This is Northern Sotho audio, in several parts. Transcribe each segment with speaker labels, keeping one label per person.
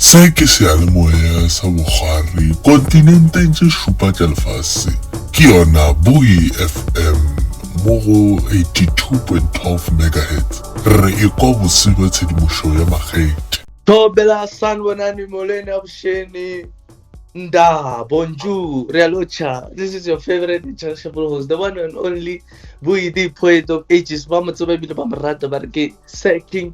Speaker 1: Se ke seyalemoya sa bokgwari kontinenteng tše šupa tša lefase, ke yona Buoy FM mo go 82.12 megahertz. Re e kwa bose bja tshedimošo ya makgethe. Thobela
Speaker 2: sanibonani molweni abusheni nda bonjour re a locha this is your favorite and cherishable host the one and only buyi the poet of ages ba mo tseba ebile ba mo rata ba re ke sir king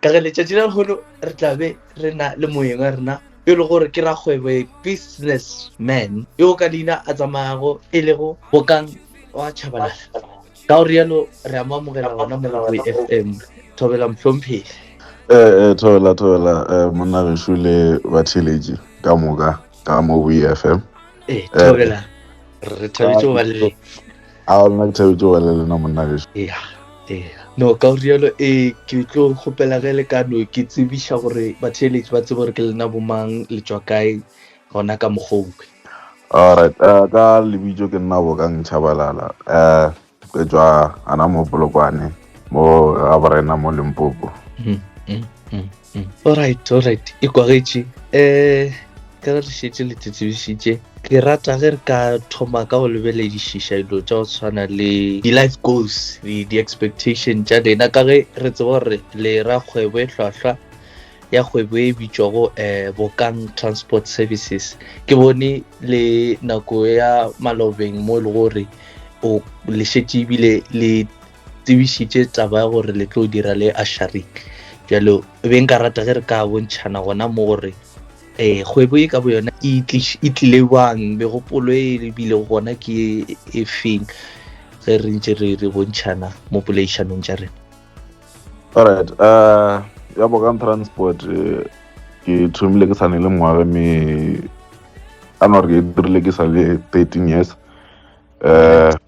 Speaker 2: ka ge letšatši la lehono re tla be re na le moeng wa rena e le gore ke rakgwebo e business man yo ka leina a tsamayago e lego bokang wa chabalala ka gore yalo re a mo amogela gona molaboe f m thobela mohlomphegi ee eh, eh, thobela thobela
Speaker 3: eh, monna gešu le batheletši ka moka ka mo boe f m ee thobela
Speaker 2: re thabetse go ba le A lena ke
Speaker 3: thabetše go ba le lena monna gešo. Ea, ea. No,
Speaker 2: ka go rialo, ee, ke tlo kgopela ge le ka no ke tsebiša gore batheeletši ba tsebe gore ke lena bo mang, le tšwa kae, gona ka mokgwa o kwe. All right, uh,
Speaker 3: ka lebitšo ke nna Bokang Chabalala. Uh, ke tšwa gana mo Polokwane, mo ga Borena, mo Limpopo. Mm, mm, mm. Mm.
Speaker 2: Alright, alright, e kwagetše. Eh, ka re šetše le tsetsebišitše ke rata ge re ka thoma ka go lebeledišiša dilo tša go tshwana le di-life goals di-expectation tša lena ka ge re tseba gore le ra kgwebo e hlwahlwa ya kgwebo e bitšwago um eh, bokang transport services ke bone le nako ya malobeng mo e le gore o lešetše ebile le tsebišitše taba ya gore le tlo dira le asharik jalo be nka rata ge re ka bontšhana gona mo gore um kgwebo e ka bo yona e, e tlile bang megopolo e e bile gona ke e feng ge re ntse re re bontšhana mo poleišanong tša rena alright
Speaker 3: uh ya bokan transport eh, ke thomile ke sane le mongwage me ka nore ke dirile ke sa le 13 years um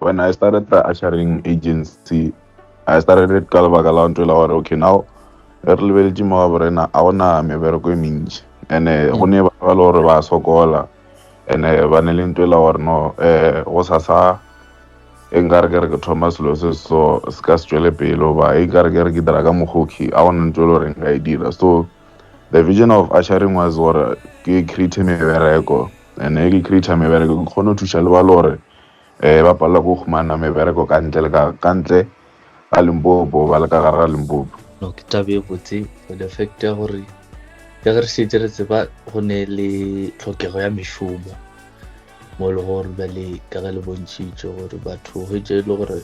Speaker 3: when i started the ushering agency i started it ka lebaka la ntho e la gore okay now re re lebeletše mo gabo rena a gona mebereko e mentši and-e go ne ba ba le gore ba sokola and-e ba ne le ntho e la gore no um go sasa e nkare ke re ke thoma selo se so se ka se tšwele pele goba e nkare ke re ke dira ka mokgoki a gona ntho e le gore nka e dira so the vision of ushering was gore ke create mebereko and-e ke create mebereko ke kgone go thuša le ba le gore Ee, ba palelwa ke go humana mebereko ka ntle le ka ntle ga Limpopo ba le ka gare ga Limpopo. No, ke taba e
Speaker 2: botse for the fact ya gore ya ge re šetse re tseba go ne le tlhokego ya mešomo mo e le gore ba le ka ge le bontšhitše gore batho ge tše e le gore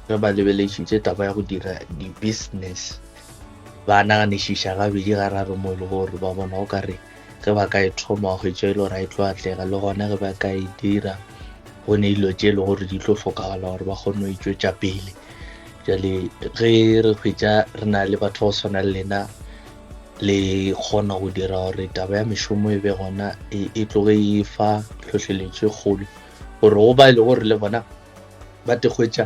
Speaker 2: ge ba lebelešitše taba ya go dira di-business ba naganišiša gabedi gararo mo e le gore ba bona o ka re Ge ba ka e thoma, hwetša e le gore a e tlo atlega, le gona ge ba ka e dira, go ne dilo tše e le gore di tlo hlokagala gore ba kgone go e tšwetša pele. Jale ge re hwetša re na le batho go swana le lena, le kgona go dira gore taba ya mešomo e be gona e, e tloge e fa tlhohleletšo e kgolo gore go ba e le gore le bona ba tekgwetša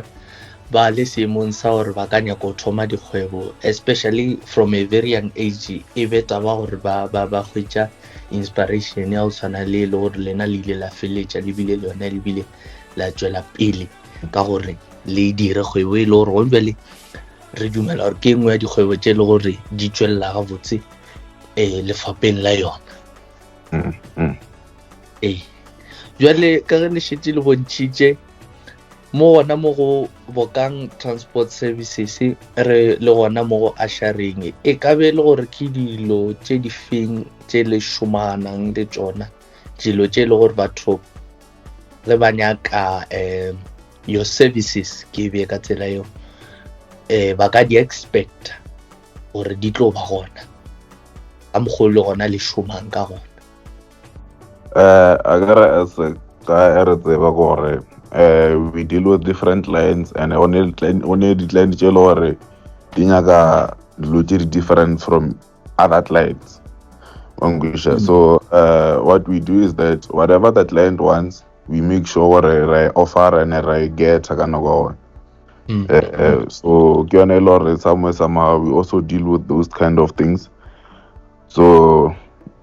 Speaker 2: ba le seemong sa gore ba ka nyako thoma dikgwebo especially from a very young age e be taba gore ba ba ba hwetša inspiration ya go tshwana le le gore lena le ile la feletša le bile le yone le bile la tšwela pele ka gore le dire kgwebo e le gore gone bjale re dumela gore ke e nngwe ya dikgwebo tše e le gore di tšwelela gabotse um eh, lefapeng la yona mm, mm. ee jale ka ge le šetse le bontšhitše mo gona mo go bokang transport services re le gona mo go asharing e ka be le gore ke dilo tše di feng tše le šomanang le tsona dilo tše e le gore batho ge ba nyaka um your services ke be ka tsela eo um ba ka di expecta gore di tlo ba gona ka mokgolo le gona le
Speaker 3: šomang
Speaker 2: ka gona um
Speaker 3: a
Speaker 2: ka re as a guy re tseba gore
Speaker 3: um we deal with different clients and o ne di-client tse e le gore di nyaka dilo tse di-different from other clients Mangwisha. So uh, what we do is that whatever the client wants, we make sure re offer and re get ka nako Mm. Eh, eh, so ke yone e le gore somewhere somehow we also deal with those kind of things so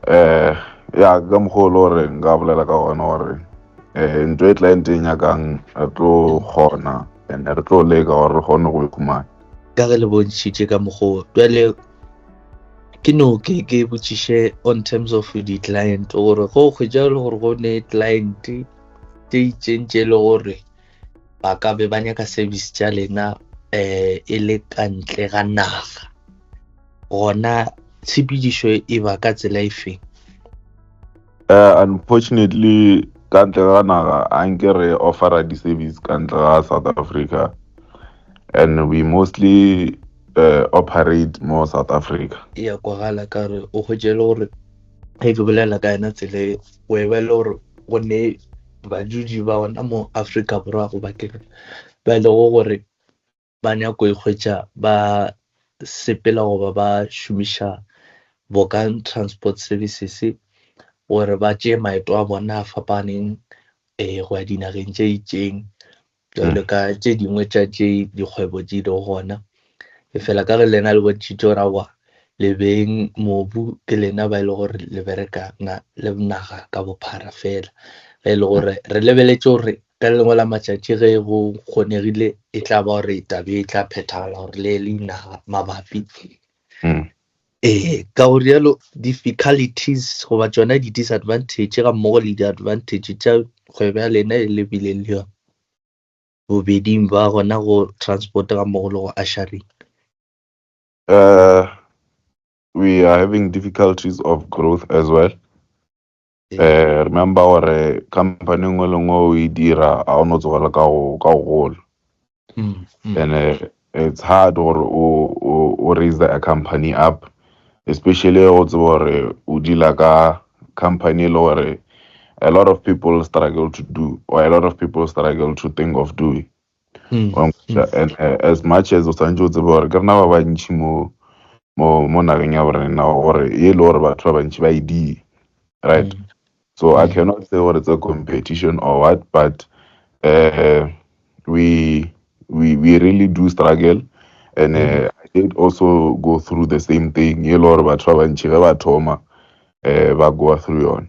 Speaker 3: eh ya ka mokgwa o le gore nka bolela ka gona gore eh ntho e client e nyakang re tlo kgona and re tlo leka gore re kgone go e khumana ka re le
Speaker 2: bontšhitše ka mokgwa jale ke no ke ke botšiše on terms of di-client gore go kgwetša le gore go ne client tše itseng tše e le gore ba ka be ba nyaka service tša lena um e le ka ntle ga naga gona tshepedišo e ba ka tsela e feng uh, unfortunately
Speaker 3: ka ntle ga naga a nke re offera di-service ka ntle ga south africa and we mostly uh, operate mo south africa ya kwagala ka
Speaker 2: re o kgwetse e le gore ge ke bolela ka yona tsela o e ba le gore go ne badudi ba ona mo Afrika Borwa go bakeng ba e lego gore ba nyako ikgwetša ba sepela goba ba šomiša Bokan Transport Services gore ba tšee maeto a bona a fapaneng um go ya dinageng tše itšeng Jalo ka tše dingwe tša tše dikgwebo di lego gona, efela ka ge lena le bontšhitšego ra wa lebeng mobu, ke lena ba e le gore le bereka na le naga ka bophara fela, ge e le gore re lebeletše gore ka le lengwe la matšatši ge go kgonegile e tla ba gore taba e tla phethagala gore le le inaga mabapi Ee, ka go rialo difficulties goba tšona di-disadvantage ga mmogo le di-advantage tša kgwebo ya lena e lebile le yona bobeding ba gona go transport ga mmogo le go ushering. Uh,
Speaker 3: we are having difficulties of growth as well. Eh, remember gore company e nngwe le nngwe o e dira ga o no tsogela ka go ka go gola Mm, mm. and eh, it's hard gore o o- o raise the a company up especially go tseba gore o deala ka company e le gore a lot of people struggle to do or a lot of people struggle to think of doing Mm. wa nkgotla and eh, as much as o santse o tseba gore ke rena ba bantšhi mo mo mo nageng ya borena gore e le gore batho ba bantšhi ba e di right Mm. so i Mm. cannot say gore it's a competition or what but uh, we we we really do struggle and uh, i did also go through the same thing e le gore batho ba bantšhi ge ba thoma uh, ba goa through yone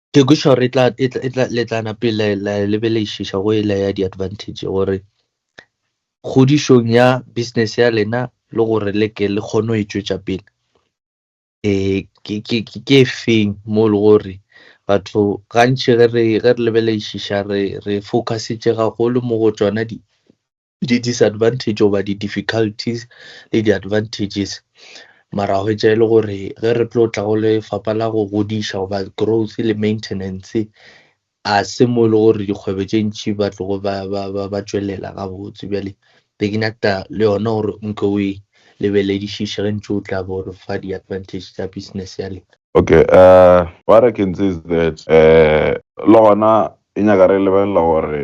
Speaker 2: Tekišo re tla, e tla, e tla, le tla nape la, la lebelešiša go e la ya diadvantage gore kgodišong ya business ya lena le gore le ke le kgone go e tšwetša pele. E, ke, ke, ke, ke efeng mo le gore batho gantši ge re, ge re lebelešiša re, re focusetše gagolo mo go tšona di, Di disadvantage goba di difficulties le di advantages, mara hwetša e le gore ge re tlo tla go lefapa la go godiša goba growth le maintenance, a se mo e le gore dikgwebo tše ntši ba tlogo ba ba ba ba tšwelela gabotse. Bjale be ke nyaka le yona gore o nke o e lebeledišiše ge ntše o tla bo re fa di advantage tša business ya lena. Okay,
Speaker 3: uh what I can say is that uh le gona e nyaka re lebelela gore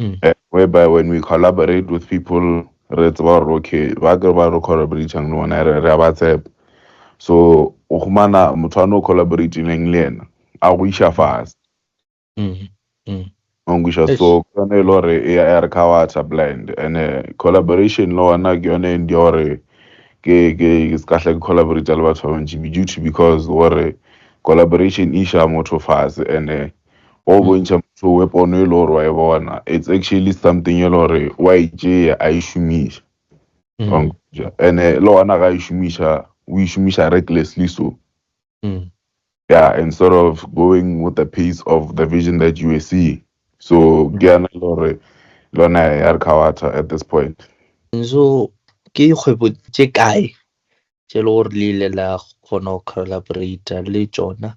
Speaker 3: Mm. eh, whereby when we collaborate with people re tseba gore okay ba ke ba re collaboratang le bona re re a ba tshepa so o humana motho a no collaboratileng le ena a go iša fase Mm. Mm. ongisha Eish. so ke yone e le gore e ya re cowater blind and eh, collaboration le ona ke yone e ndi gore ke ke ke se ka hla ke collaborate le batho ba bantši be due to because gore collaboration e iša motho fase and eh, wa go bontšha motho we pono e le gore wa e bona it's actually something e le gore wa e tšea a e šomiša mm. wa nkutša and eh, le gona ga e šomiša o e šomiša recklessly so mm. yeah instead of going with the pace of the vision that you were seeing so mm. ke yana e le gore lona ya re kgawatha at this point so
Speaker 2: ke dikgwebo tše kae tše le gore le ile la kgona go collaborata le tsona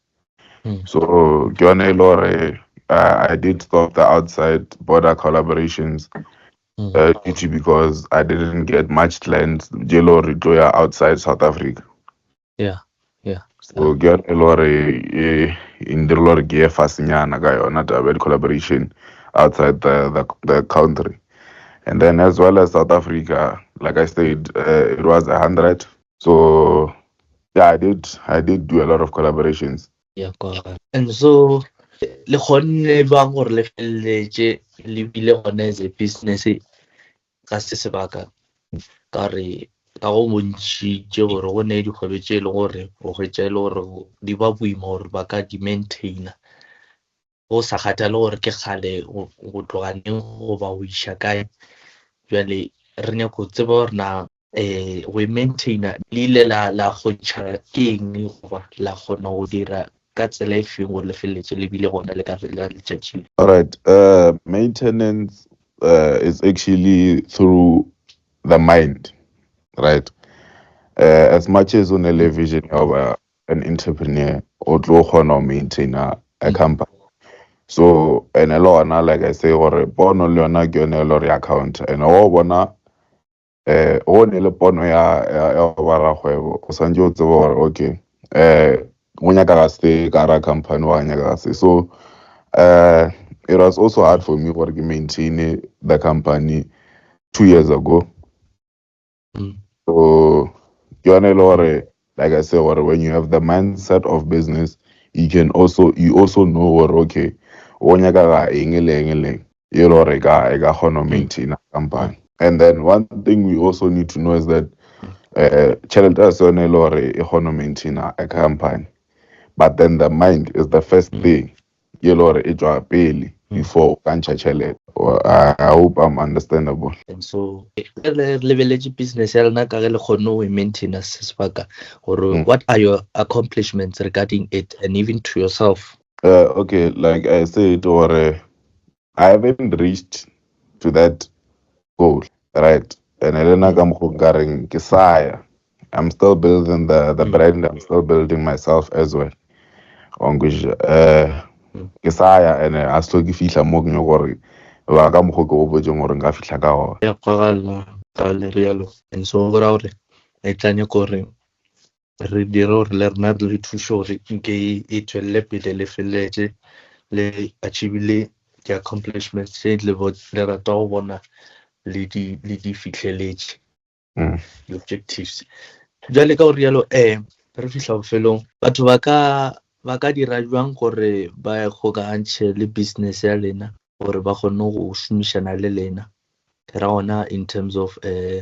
Speaker 3: so ke yone e le gore uh, i did stop the outside border collaborations mm. uh, due to because i didn't get much clients je le gore tlo ya outside south africa yeah
Speaker 2: yeah so
Speaker 3: ke yone e le gore e ndirile gore ke ye fasenyana ka yona taba ya di-collaboration outside the, the, the country and then as well as south africa like i said uh, it was a hundred so yeah i did i did do a lot of collaborations ya kwaga
Speaker 2: and so le kgonne bang gore le feleletše le bile gone as a business ka se sebaka ka re ka go bontšhitše gore go ne dikgwebe tše e le gore go hwetša e le gore di ba boima gore ba ka di maintaina go sa kgathale gore ke kgale go tloga neng goba go iša kae jale re nyaka go tseba gore na um go e maintaina le ile la kgontšha ke eng goba la kgona go dira ka tsela e feng gore le feleletse le bile gona le ka letšatši alright uh,
Speaker 3: maintenance uh, is actually through the mind right uh, as much as o ne le vision ya goba an entrepreneur o tlo kgona go maintaina a company so ene le gona like i say gore pono le yona ke yone e le gore account ene o bona eh o ne le pono ya ya ya go ba rakgwebo o santse o tseba gore okay eh go nyaka ga se ka ra company wa nyaka ga se so eh it was also hard for me gore ke maintain the company two years ago Mm. so ke yone e le gore like i say gore when you have the mindset of business you can also you also know gore okay o nyaka ga eng le eng le eng e le gore e ka e ka kgona go maintaina company and then one thing we also need to know is that uh, tšhelete a se yone e le gore e kgona go maintaina a company but then the mind is the first thing ye le gore e tšwa pele before o ka ntšha tšhelete I hope I'm understandable. And so e
Speaker 2: re re lebeletše business ya lena ka ge le kgonne go e maintainer se sebaka gore what are your accomplishments regarding it and even to yourself? Okay
Speaker 3: like I said gore I haven't reached to that goal right and le nna ka mokgo nka reng ke saya I'm still building the the mm. brand I'm still building myself as well onkush eh mm. ke saya and a selo ke fihla mo ke nyoko gore ba ka mokgo ke obotseng gore nka fihla ka gona ya kgagalla
Speaker 2: ka le rialo and so go ra gore e tlanye gore re dire gore le rena re le thuše gore nke e tswelele pele le feleletše le achievile di-accomplishments tše le rata go bona le di fihleletše mm. di-objectives jale ka gore yalo um re fihla bofelong batho ba ka ba ka dira jwang gore ba kgokagantšhe le business ya lena gore ba kgone go šomišana le lena ke ra gona in terms of um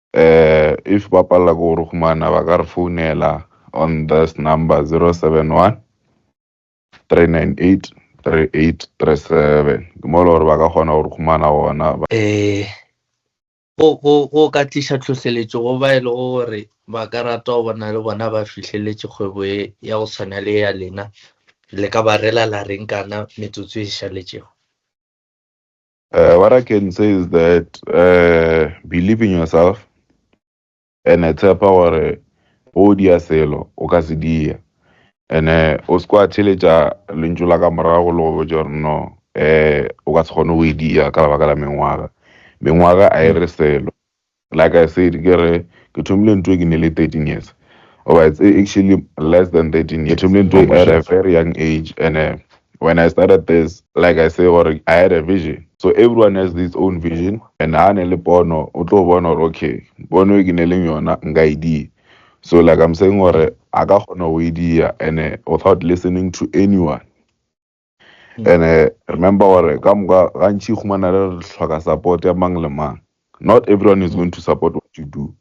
Speaker 3: If ba palela ke go re humana ba ka re founela on this number 071 398 3837 ke mo e le gore ba ka kgona go re humana gona.
Speaker 2: Go ka tliša tlhohleletšo go ba e lego gore ba ka rata go bona le bona ba fihleletše kgwebo ye ya go tshwana le ya lena, le ka ba rela la reng kana metsotso e šaletšego?
Speaker 3: Uh, what I can say is that uh, believe in yourself and I tshepa gore o dia selo o ka se dia and uh, o se kwa theletša lentšu la ka morago le go botša gore no uh, o ka se kgone go e dia ka lebaka la mengwaga mengwaga a e re selo Like I said ke re ke thomile ntwe ke nele 13 years or it's actually less than 13 years. Ke thomile ntwe at a very young age and uh, when I started this, like I say, or I had a vision. So everyone has this own vision and ha ne le pono, o tlo bona hore okay, pono e ke ne leng yona nka e di. So like I'm saying hore a ka kgona ho e dia and uh, without listening to anyone. and uh, remember gore ka moka gantši humana re tlhoka support ya mang le mang not everyone is going to support what you do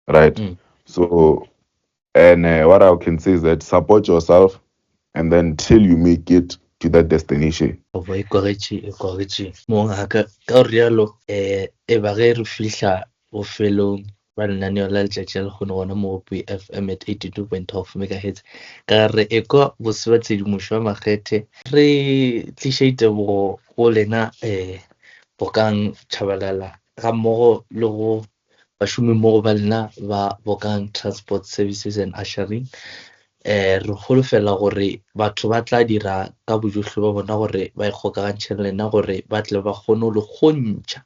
Speaker 3: right mm. so and uh, what i can say is that support yourself and then till you make it to that destination goba e kogetše
Speaker 2: e kogetše mong a ka ka rialo um e ba ge re fihla Bofelong bja lenaneo la letšatši la lekgono gona mo go Buy FM at 82.12 megahertz ka ga re ekwa bose ba tshedimošo ya makgethe. Re tliša ditebogo go lena um Bokang Tshabalala gammogo le go bašomimmogo ba lena ba Bokang Transport Services and Ushering Ee, re holofela gore batho ba tla dira ka bojohle ba bona gore ba ikgokagantšhe le lena gore ba tle ba kgone go le kgontšha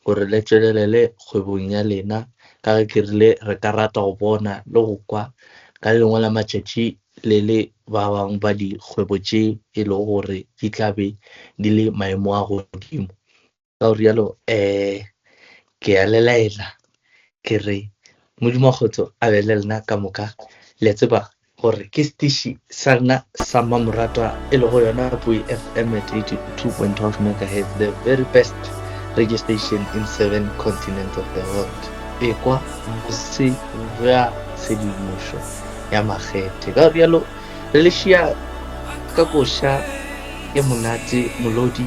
Speaker 2: gore le tšwelelele kgwebong ya lena ka ge ke rile re ka rata go bona le go kwa ka le lengwe la matšatši le le ba bangwe ba dikgwebo tše e lego gore di tla be di le maemo a godimo. Ka gore yalo um ke ya le laela ke re Modimo kgotso a be le lena ka moka le tseba gore ke setiši sa rena sa mmamoratwa e lego yona poi fm at 82.12 megahertz the very best radio station in seven continents of the world ekwa bose bja tshedimošo ya makgethe ka gore yalo re le šia ka koša e monate molodi